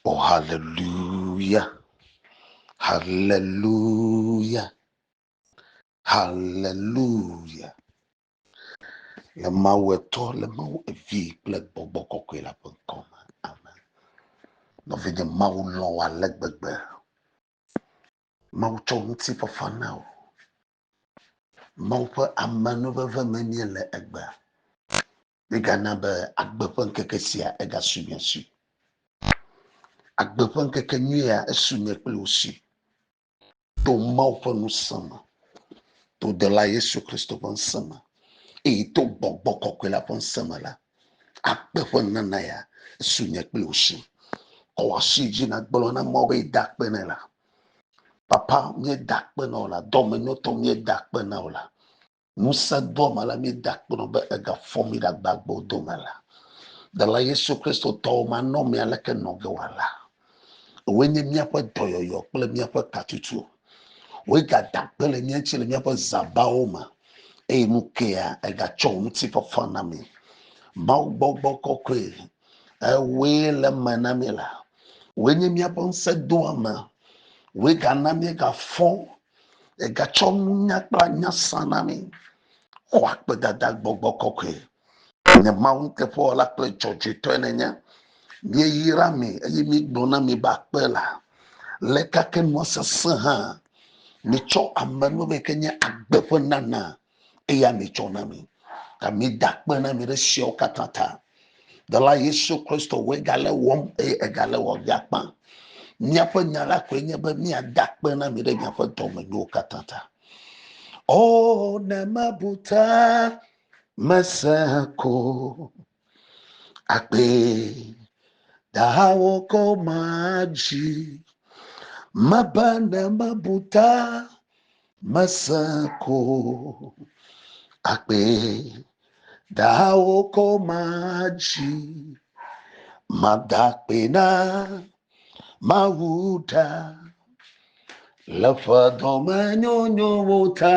Oh, hallelujah. Hallelujah. Hallelujah. Le Mawu etɔ, le Mawu evi kple gbɔgbɔ kɔkɔe la ƒe ŋkɔ me. Amen. Nɔvinye Mawu lɔ̃ wò ale gbegbe. Mawu tsɔ ŋuti fafa na wò. Mawu ƒe amenuveve me mie le egbe. Mígana be agbe ƒe ŋkeke sia egasu mia si. Agbe ƒe ŋkeke nyuia esu nye kple wò si to Mawu ƒe ŋusẽ me, to dɔla Yesu Kristo ƒe ŋusẽ me, eye to gbɔgbɔ kɔkɔe la ƒe ŋusẽ me la. Agbe ƒe nana ya esu nye kple wò si. Kɔ wò asi dzi na gblɔ na Mawu be yeda akpe nɛ la. Papa, míeda akpe na wò la, dɔmenyotɔ míeda akpe na wò la. Ŋusẽdoame la míeda akpe nɔ be egafɔ mí ɖe agbagbewo dome la. Dela Yesu Kristo tɔwo manɔmee aleke nɔ ge wòala. Woe nye míaƒe dɔyɔyɔ kple míaƒe katutu. Woe gada akpe le mía ŋuti le míaƒe zãbawo me eye nu kea egatsɔ wò ŋutifafa na mí. Mawu gbɔgbɔ kɔkɔe, ewɔe le eme na mí la. Woe nye míaƒe ŋusẽdoame. Woe gana míegafɔ Egatsɔ nunya kple anya sa na mí. Xɔ akpedada gbɔgbɔ kɔkɔe. Nye Mawu nuteƒewɔla kple dzɔdzɔetɔe nènye. Míeyra mi eye míegblɔ na mi be akpe la le gake nua sesẽ hã. Mitsɔ amenuveve yi ke nye agbe ƒe nana eya mitsɔ na mi ta mida kpe na mi ɖe siawo katã ta dɔla yesu kristo woe gale wɔm eye egale wɔm miakpa míaƒe nya la koe nye be míada kpe na mi ɖe miaƒe dɔmenyowo katã ta o ne mebu ta mese ko Agbee dahawo ko madzi, mebe ne mebu ta mese ko. Agbee dahawo ko madzi, mada akpe na Mawu ɖa le ƒe dɔmenyonyowo ta.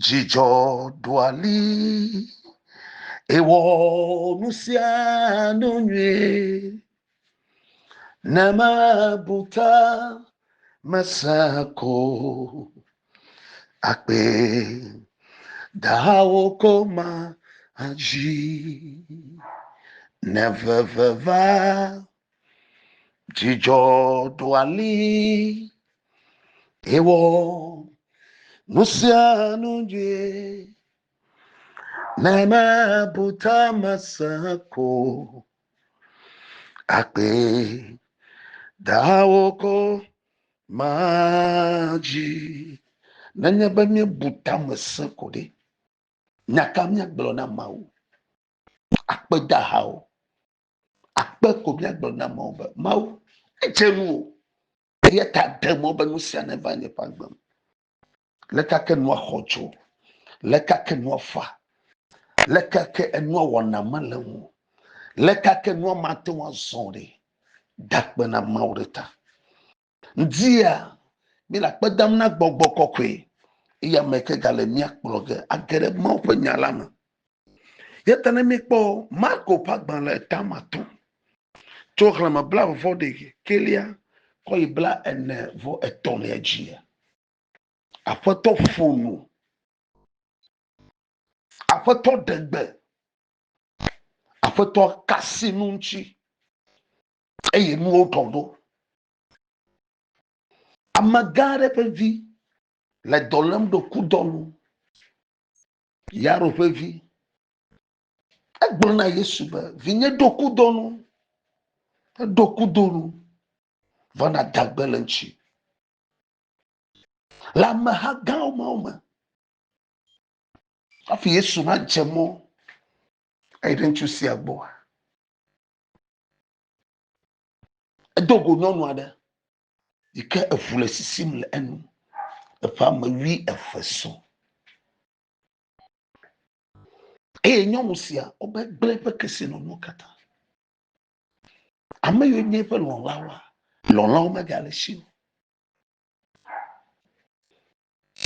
Dzidzɔ ɖua li, ewɔ nu sia nu nyuie, ne mebu ta mese ko akpe dahawo ko ma adzi ne veve va Dzidzɔ ɖo ali ewɔ nu sia nu nyuie ne mebu ta mese ko akpe dawo ko madzi nenye be míebu ta mese ko ɖe nyaka míagblɔ na mawu akpedahawo Akpe ko míagblɔ na amewo be, Mawu, edze ŋuwò, eya ta de mɔ be nu sia neva nye ƒe agbe me. Leka ke nua xɔ dzo, leka ke nua fa, leka ke enua wɔna mele ŋu, leka ke nua mate ŋu azɔ ɖi. Da akpe na Mawu ɖe ta. Ŋdia míele akpe dam na gbɔgbɔ kɔkɔe, eye ame ke gale mía kplɔ ge age ɖe Mawu ƒe nya la me. Yata ne míekpɔ Marko ƒe agbalẽ etama tɔ̃, tso xlẽme blaeve vɔ ɖe kelia kɔ yi bla ene vɔ etɔ̃lia dzia, Aƒetɔ ƒo nu, Aƒetɔ ɖe gbe, Aƒetɔ ka sinu ŋuti, eye nuwo tɔ ɖo. Amegã aɖe ƒe vi le dɔ lém ɖo kudɔ nu. Yaro ƒe vi. Egblɔ na Yesu be, Vinye ɖo kudɔ nu. Eɖo kudɔ nu. Vɔ na dagbe le ŋuti. Le ameha gãwo mawo me. Hafi Yesu nadze mɔ eyi ɖe ŋutsu sia gbɔa. Edo go nyɔnu aɖe yi ke eŋu le sisim le enu. Eƒe ame wui eve sɔ. Eye nyɔnu sia wobe gblẽ eƒe kesinɔnuwo katã. Ame yiwo nye eƒe lɔ̃lawoa, lɔ̃lawo megale esi o.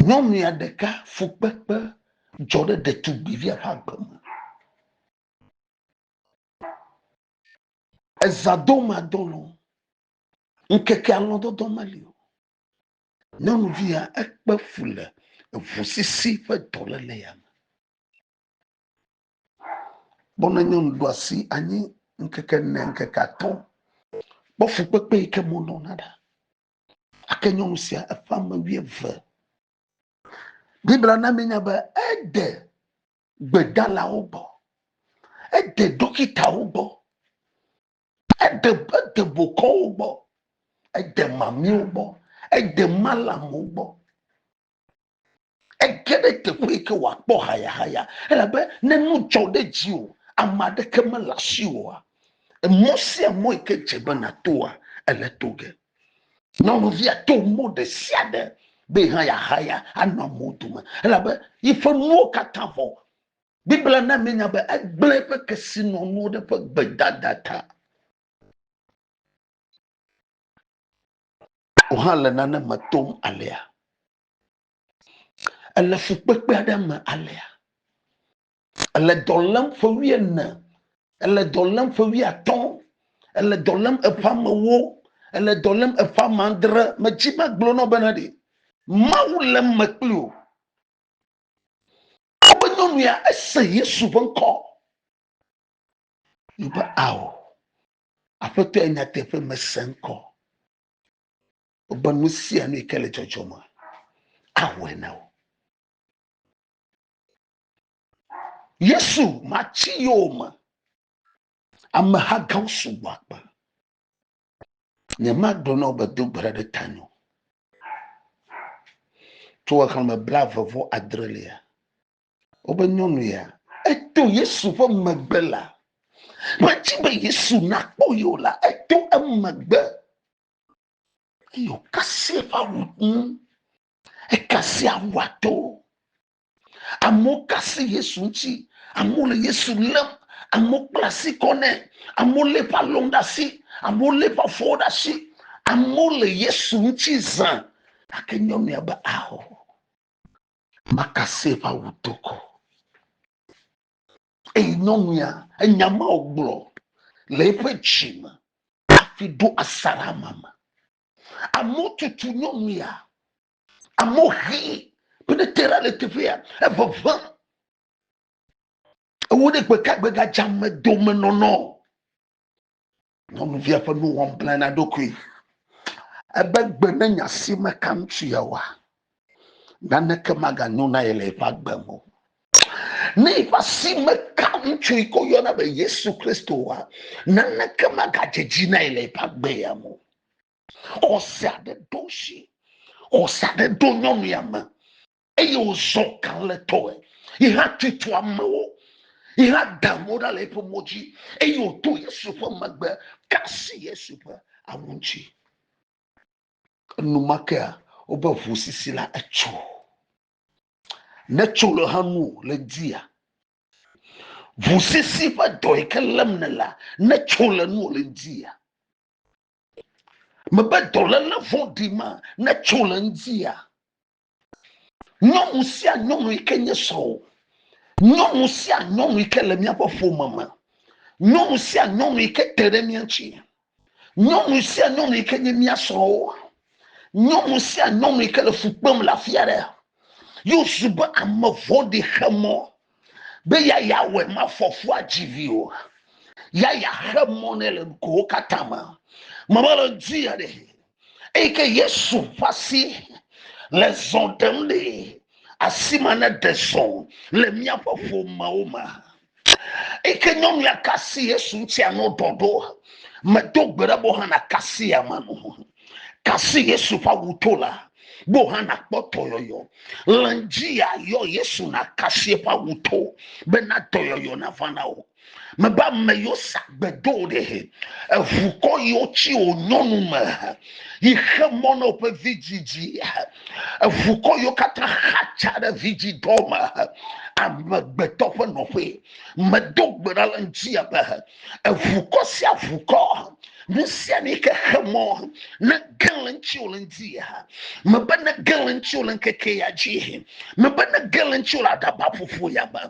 Nyɔnu ya ɖeka fukpekpe dzɔ ɖe ɖetugbivia ƒe agbe me. Eza do ma do lɔ. Ŋkeke alɔ dɔdɔ ma li o. Nyɔnuvi ya ekpe fu le eŋu sisi ƒe dɔ le le ya me. Bɔna nyɔnu ɖo asi anyi ŋkeke ne ŋkeke atɔ. Kpɔ fu kpekpe yi ke mo nɔ na ɖa. Ake nyɔnu sia eƒe ame wuieve. Biblia na mi nya be ede gbedalawo gbɔ, ede ɖɔkitawo gbɔ, ede ede bokɔwo gbɔ, ede mamiwo gbɔ, ede malamu gbɔ. Ege ɖe teƒe yi ke wòakpɔ hayahaya elabe ne nu dzɔ ɖe dziwò ame aɖeke mele asiwò oa, emɔ sia mɔ yi ke dze be nàtoa ele to ge. Nyɔnuvia to mo ɖe sia ɖe be hã yeahaya anɔ amewo dome elabe yiƒe nuwo katã vɔ. Biblia na míenya be egblẽ eƒe kesinɔnuwo ɖe eƒe gbedada ta. Wò hã le nane me tom alea? Èle fukpekpe aɖe me alea? Èle dɔ lém ƒe wuiene, èle dɔ lém ƒe wuiatɔ̃, èle dɔ lém eƒe amewo, èle dɔ lém eƒe ame adre. Medzi be agblɔ na wò bena ɖe Mawu le eme kpli wò. Togbɔ be nyɔnu ya ese Yesu ƒe ŋkɔ yi be ao, Aƒetɔ ya nyateƒe mese ŋkɔ be nu sia nu yi ke le dzɔdzɔm awɔe na wò. Yesu matsi yewo me. Ameha gãwo sugbɔ akpe. Nyemagblɔ na wo be do gbe ɖa ɖe ta nyo. Tso xexlẽme bla eve vɔ adre lia, wobe nyɔnu ya eto Yesu ƒe megbe la. Medi be Yesu nakpɔ yewo la, eto emegbe. Eyo kasi eƒe awu ŋu. Ekasi awua to. Amewo ka asi Yesu ŋuti. Amewo le Yesu lém. Amewo kpla asi kɔ nɛ. Amewo lé eƒe alɔnu ɖe asi. Amewo lé eƒe afɔwo ɖe asi. Amewo le Yesu ŋuti zã. Gake nyɔnu ya be, Ao, maka asi eƒe awu do ko. Eye nyɔnu ya enya ma wògblɔ le eƒe dzi me hafi ɖo asaɖa ma me. Amewo tutu nyɔnu ya. amewo hi be ne te ɖa le teƒea eʋeʋẽ ewo ɖe gbeka gbega dzame dome nɔnɔ nyɔnuvia ƒe nuwɔm bla na ɖokui ebe gbe ne nya si meka ŋutsu yawoa naneke maganyo na ye le eƒe agbe me o ne eƒe asi meka ŋutsu yi ko yɔna be yesu kristo wa naneke magadze dzi na ye le eƒe agbe ya me o xɔse aɖe ɖo si xɔse aɖe ɖo nyɔnu ya me eye wòzɔ kan le tɔe yi hã tutu amewo yi hã da amewo ɖa le eƒe mo dzi eye wòto yesu ƒe megbe kasi yesu ƒe awu ŋuti enumakea wobe ʋu sisi la etso ne tso le ha nu le dia ʋu sisi ƒe dɔ yi ke lém ne la ne tso le nu le dia mebe dɔléle vɔɖi ma netso le ŋutia nyɔnu sia nyɔnu yi ke nye srɔ̃wò nyɔnu sia nyɔnu yi ke le míaƒe ƒome me nyɔnu sia nyɔnu yi ke te ɖe mía ŋuti nyɔnu sia nyɔnu yi ke nye mía srɔ̃wo nyɔnu sia nyɔnu yi ke le fu kpem le afi aɖe yewo su be ame vɔ̃ɖi xe mɔ be yaya wɛ ma fɔfua dzivi o yaya xe mɔ ne le nukowo katã me mama le dzi ya ɖe eyi ke yesu ƒe asi le zɔ ɖem ɖe asi ma ne ɖe zɔ le míaƒe ƒomewo me eyi ke nyɔnu ya kasi yesu ŋutia no ɖɔɖo medo gbe ɖe bo hã na kasi ya ma no Kasi Yesu ƒe awu to la, wò hã nàkpɔ dɔyɔyɔ. Le dzia yɔ Yesu nakasi eƒe awu to bena dɔyɔyɔ nava na wò. Mebe ame yiwo sa gbedo ɖe eʋukɔ yiwo tsi wò nyɔnu me yi xe mɔ na woƒe vidzidzi. Eʋukɔ yiwo katã xatsa ɖe vidzidɔ me amegbetɔ ƒe nɔƒe. Medo gbe ɖa le ŋuti abe eʋukɔ sia ʋukɔ nusia nu yi ke xe mɔ nege le ŋuti wòle ŋdi ya mebe nege le ŋuti wòle ŋkeke ya dzi mebe nege le ŋuti wòle aɖaba ƒoƒo ya me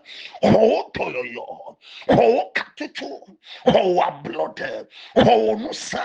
xɔwo dɔyɔyɔ xɔwo katutu xɔwo ablɔɖe xɔwo nusã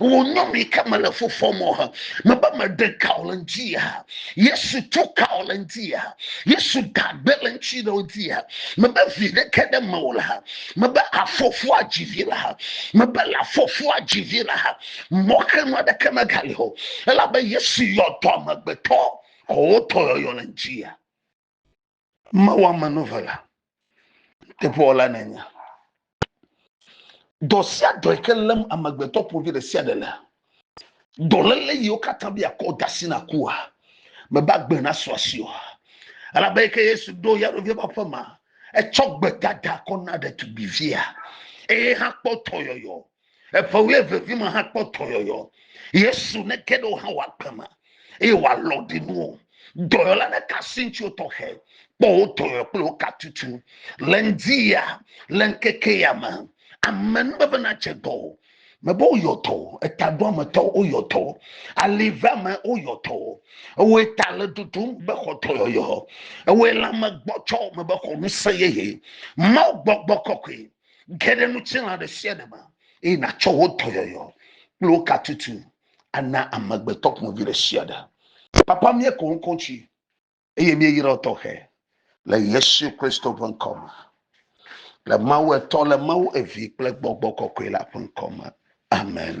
wònyɔm yi ke mele fu fɔm o hã mebe meɖe ka o le ŋuti ya yesu tu ka o le ŋuti ya yesu dagbe le ŋuti ɖe ŋuti ya mebe vi ɖeke ɖe me o le ha mebe afɔfu adzi vi le ha mebe le afɔfu adzi vi le ha mɔxenu aɖeke megali o elabe yesu yɔ dɔ amegbetɔ xɔ wotɔ yɔyɔ le ŋuti ya Mawu amenuvela, teƒewɔla nènye. Dɔ sia dɔ yi ke lém amegbetɔ ƒovi ɖe sia ɖe le, dɔléle yiwo katã be yeakɔ da asi na kua, mebe agbe nasu asi o. Elabe yi ke Yesu ɖo ya ɖovi ƒe aƒe ma, etsɔ gbedada kɔ na ɖetugbivia eye hã kpɔ dɔyɔyɔ Eƒe wuievevi me hã kpɔ dɔyɔyɔ. Yesu neke ɖe wo hã wɔ agbe me eye wòalɔ ɖi nu o. Dɔyɔla ɖeka si ŋuti wotɔxɛ kpɔ wo dɔyɔ kple wo katutu. Le ŋdi ya, le ŋkeke ya me, ame nu bebe nadze dɔ o. Mebe woyɔ dɔ o. Etaɖoametɔ woyɔ dɔ. Aliveame woyɔ dɔ. Ewoe ta le ɖoɖom be xɔ dɔyɔyɔ. Ewoe lãme gbɔtsɔ mebe xɔ ŋusẽ yeye. Mawu gbɔgbɔ kɔkɔe Ge ɖe ŋutilã ɖe sia ɖe me eye nàtsɔ wo dɔyɔyɔ kple wo katutu ana amegbetɔ ƒomevi ɖe sia ɖe. Papa, míeko ŋkɔ dzi eye míeyra wo tɔxɛ le Yesu Kristo ƒe ŋkɔ me, le Mawu Etɔ, le Mawu Evi kple Gbɔgbɔ Kɔkɔe la ƒe ŋkɔ me. Amen.